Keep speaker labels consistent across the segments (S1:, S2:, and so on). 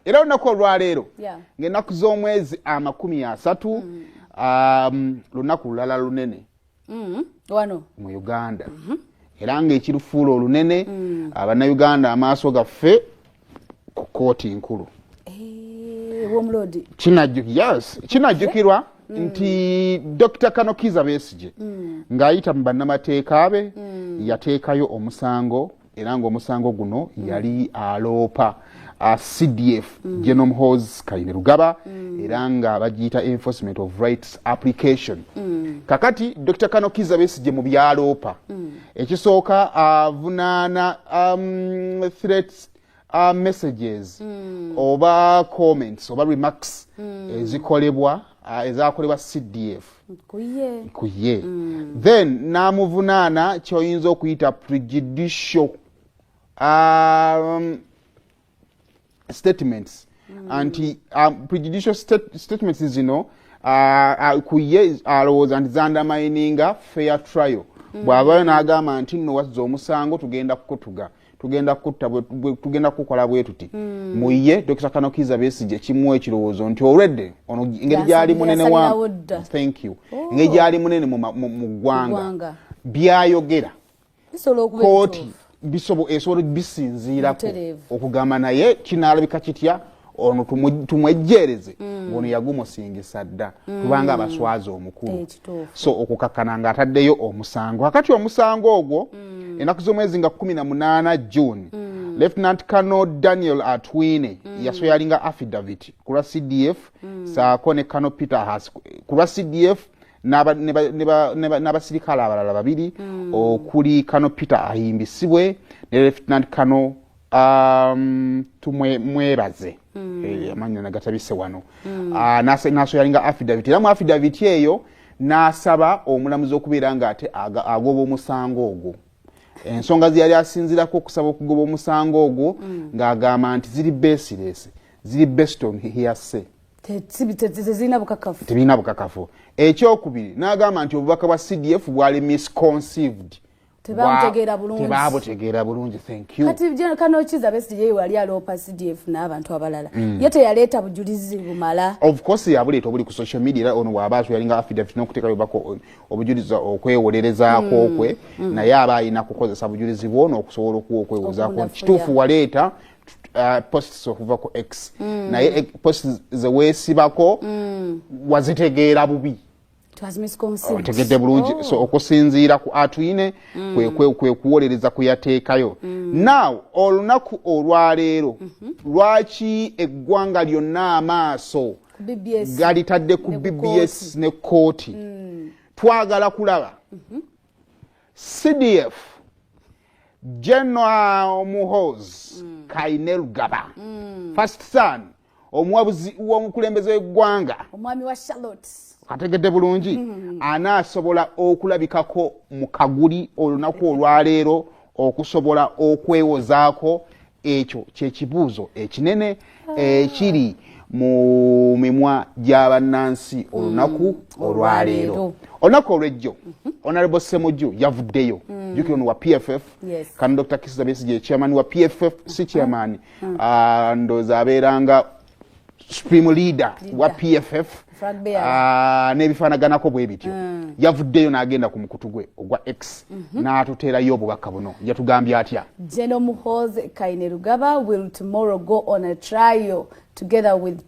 S1: era olunaku olwaleero ngaenaku z'omwezi amakumi asatu mm. um, lunaku lulala lunene mm. wano
S2: mu uganda
S1: mm-hmm. era ngaekirufuula olunene mm. abanauganda amaaso gaffe ku kooti nkulu eh, kinajjukirwa mm. nti dr kanokiza besije ng'ayita mu bannamateeka be yateekayo omusango era ng'omusango guno mm. yali aloopa uh, cdf mm. genome hos kaine lugaba mm. era nga bagiyita enforcement of rights application mm. kakati dr kano kiza besigye mu byaloopa mm. ekisooka avunaana uh, um, threats uh, messages mm. oba comments oba remarks mm. ezikolebwa uh, ezakolebwa cdf kuye, kuye. Mm. then namuvunaana kyoyinza okuyita prejudicial um, statements mm. anti um, prejudicial stat statements zino uh, uh, kuye alowooza uh, nti zandamininga fair trial mm. bw'abayo n'agamba nti nno wazza omusango tugenda kukutuga tugenda kutta tugenda kukola bwetuti mm. muye dokita kanokiza besije kimu ekirowoozo nti olwedde ono engeri gyali munene wa thank you oh. engeri gyali munene mu ggwanga byayogera kooti bisobo esobola bisinziirako okugamba naye kinaalabika kitya ono tumwejjeereze mm. ngono yagumusingisa dda mm. kubanga abaswaza omukulu eh, so okukakkana nga ataddeyo omusango kakati omusango ogwo mm. enaku z'omwezi nga 18 june lieutenant cano daniel atwine yasoyalinga affidavit ku lwa cdf saako ne cano peter has ku lwa cdf n'abasirikale abalala babiri okuli cano peter ahimbisibwe ne lieutenant cano um, tumwebaze mm. eh, amanyi nagatabise wano mm. uh, ah, nasoyalinga affidavit era mu affidavit eyo n'asaba omulamuzi okubeera nga ate agoba omusango ogwo ensonga zeyali asinzirako okusaba okugoba omusango ogwo mm. ng'agamba nti ziri besiresi ziri beston hiase tebirina bukakafu ekyokubiri n'agamba nti obubaka bwa cdf bwali misconceived tebabutegeera bulungi tebabutegeera bulungi thank you kati je kano kiza
S2: besti je wali alopa CDF na abantu abalala mm. yete yaleta bujulizi bumala of course yabuleta
S1: obuli ku social media era ono waba atu yalinga affidavit no kuteka yobako obujulizi okwewolereza mm. kokwe mm. na yaba ina kukozesa bujulizi bwono okusobola okuwa okwewoza ko kitufu waleta Uh, posts okuva ku x mm. naye eh, posts zewesibako mm. wazitegeera bubi otegedde bulungi oh. so okusinziira ku atwine mm. kwekuwolereza kuyateekayo mm. now olunaku olwaleero mm-hmm. lwaki eggwanga lyonna amaaso galitadde ku bbs ne kooti mm. twagala kulaba mm-hmm. cdf general muhoz kainelgaba first son omuwabuzi w'omukulembeze w'eggwanga omwami wa charlotte
S2: ategedde bulungi
S1: mm-hmm. anaasobola okulabikako mu kaguli olunaku olwaleero okusobola okwewozaako ekyo kyekibuuzo ekinene ah. ekiri mu mimwa gy'abannansi olunaku mm. olwaleero olunaku olwejjo mm-hmm. honorable semuju yavuddeyo mm. jukira ono wa pff kan dr kisabesige chairman wa pff si chairman hmm. ah, ndoza abeera nga supreme leader wa pff ah, n'ebifaanaganako bwe bityo hmm. yavuddeyo n'agenda ku mukutu gwe ogwa x mhm. n'atuteerayo obubaka buno yatugambye atya general muhoze
S2: kainerugaba will tomorrow go on a trial together with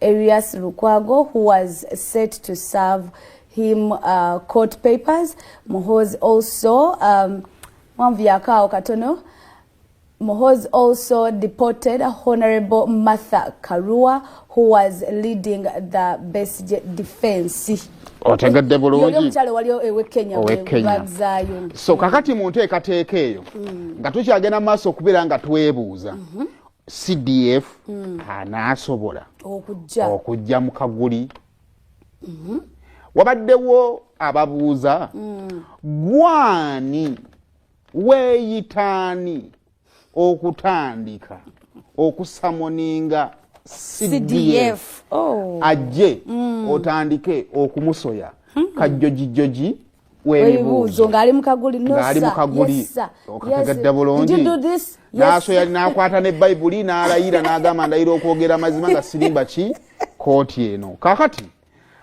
S2: Erias Lukwago who was set to serve him uh, court papers. Muhozi also um, mwanvu yakaawo katono Mohoz also deported Honorable Martha Karua who was leading the best defense. Otegedde
S1: bulungi. Omukyalo wali ewe Kenya. Owe
S2: Kenya.
S1: So kakati mu nteekateeka eyo mm. nga tukyagenda maaso okubeera nga twebuuza. Mm -hmm. cdf mm. anaasobola okujja mu kaguli mm-hmm. wabaddewo ababuuza mm. gwani weeyitaani okutandika okusamoninga cdf oh. ajje mm. otandike okumusoya hmm. kajjojijoji webibuuzo ngaali mukaguli
S2: ngaali mukaguli okakagadda
S1: bulungi naaso yali nakwata ne bayibuli n'alayira n'agamba ndayira okwogera amazima nga sirimba ki kooti eno kakati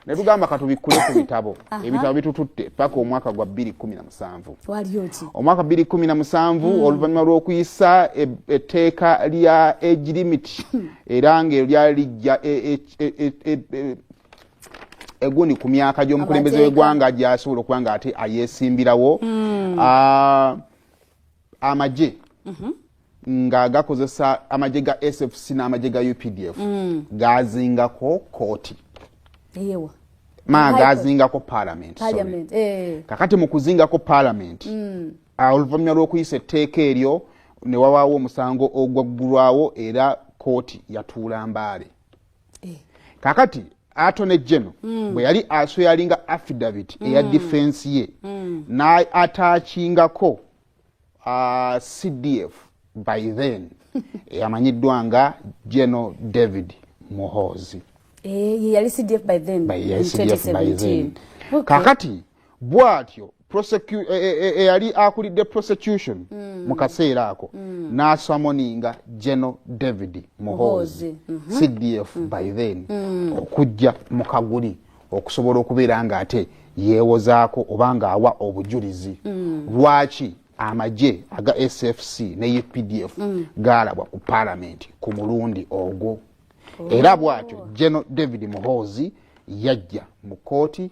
S1: ne tugamba katubikkule ku bitabo ebitabo bitututte paka omwaka gwa 217 omwaka 217 hmm. oluvannyuma lw'okuyisa e, etteeka lya egirimiti hmm. era ngaeryo lyali lijja e, e, egundi ku myaka gy'omukulembeze w'eggwanga gyasobola okuba nga ate ayesimbirawo hmm. ah, amagye mhm. nga gakozesa amagye ga sfc n'amagye ga updf hmm. gazingako kooti ma gazingako parliament eh. kakati mu kuzingako parliament hmm. ah, oluvanyuma lw'okuyisa etteeka eryo ne wawaawo omusango ogwaggulwawo era kooti yatuula mbaale eh. kakati atone geno mm. bwe yali asoyalinga affidavit mm. eya difensi ye mm. naatachingako uh, cdf by then eyamanyiddwa nga geno david muhoozi
S2: eh, yali cdf by then kakati
S1: bwatyo eyali e, e, e, e akulidde prosecution mm. mu kaseera ako mm. n'asamoninga general david muhoozi mm -hmm. cdf mm. by then mm. okujja mu kaguli okusobola okubeera ng'ate yeewozaako oba ng'awa obujulizi mm. lwaki amagye aga sfc ne updf mm. gaalabwa ku paalamenti ku mulundi ogwo oh. era bwatyo general david muhoozi yajja mu kooti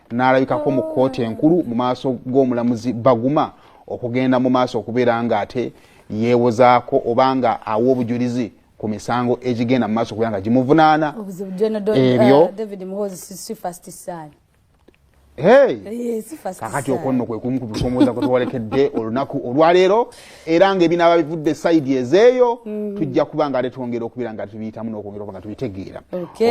S1: n'alabikako mu kkooti enkulu mu maaso g'omulamuzi baguma okugenda mu maaso okubeera nga ate yeewozaako oba nga awa obujulizi ku misango egigenda mu maaso okubeera nga gimuvunaana ebyo
S2: kakati
S1: okonno kwe kumu ku bisoomooza kwe tuwalekedde olunaku olwaleero era nga ebinaaba bivudde saidi ezeeyo mm. tujja kuba nga ate twongera okubeera nga tubiyitamu nokwongera okuba nga tubitegeera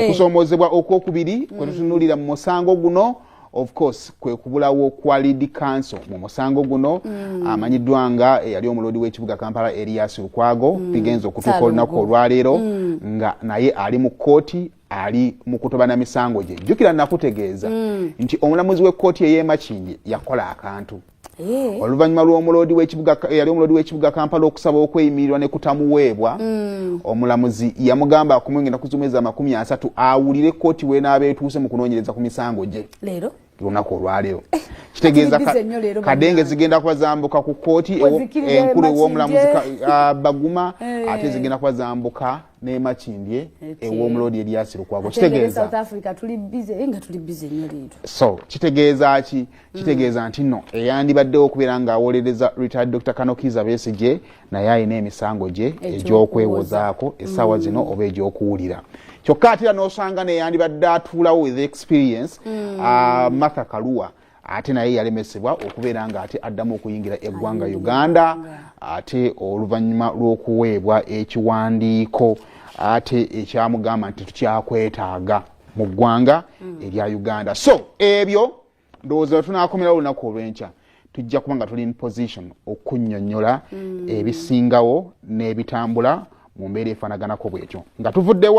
S1: okusoomozebwa okwokubiri mm. kwetutunulira mu musango guno of course kwe kubulawo kwa lead council mu musango guno mm. amanyiddwa nga eyali omuloodi w'ekibuga kampala elias lukwago mm. bigenza okutuuka olunaku olwaleero mm. nga naye ali mu kkooti ali mu kutobana misango gye jjukira nakutegeeza mm. nti omulamuzi w'ekkooti ey'emakindye yakola akantu Eh. oluvannyuma lw'omuloodi w'ekibuga eyali omuloodi w'ekibuga kampala okusaba okweyimirirwa ne kutamuweebwa mm. omulamuzi yamugamba akumwengenda kuzumwezi amakumi asatu awulire kkooti weenaaba etuuse mu kunoonyereza ku misango gye leero lunaku olwaleero eh, kitegeeza kadenge zigenda kuba zambuka ku kkooti enkulu ew'omulamuzi ah, baguma eh. ate zigenda kuba zambuka nemakindye ew'omuloodi eryasirukwago kitegeeza
S2: so kitegeeza
S1: ki Mm. kitegeeza nti no eyandibaddewo okubeera ng'awolereza retired dr kanokiiza besigye naye alina emisango gye egy'okwewozaako essaawa zino mm. oba egy'okuwulira kyokka atera n'osanga neyandibadde atuulawo with experience mm. ah, martha kaluwa ate naye yalemesebwa okubeera ng'ate addamu okuyingira eggwanga uganda ate oluvannyuma lw'okuweebwa ekiwandiiko ate ekyamugamba nti tukyakwetaaga mu ggwanga erya uganda so ebyo ndowooza we tunaakomerawo olunaku olw'enkya tujja kuba nga tuli in position okunyonyola mm. ebisingawo n'ebitambula mu mbeera efaanaganako bwekyo nga tuvuddewa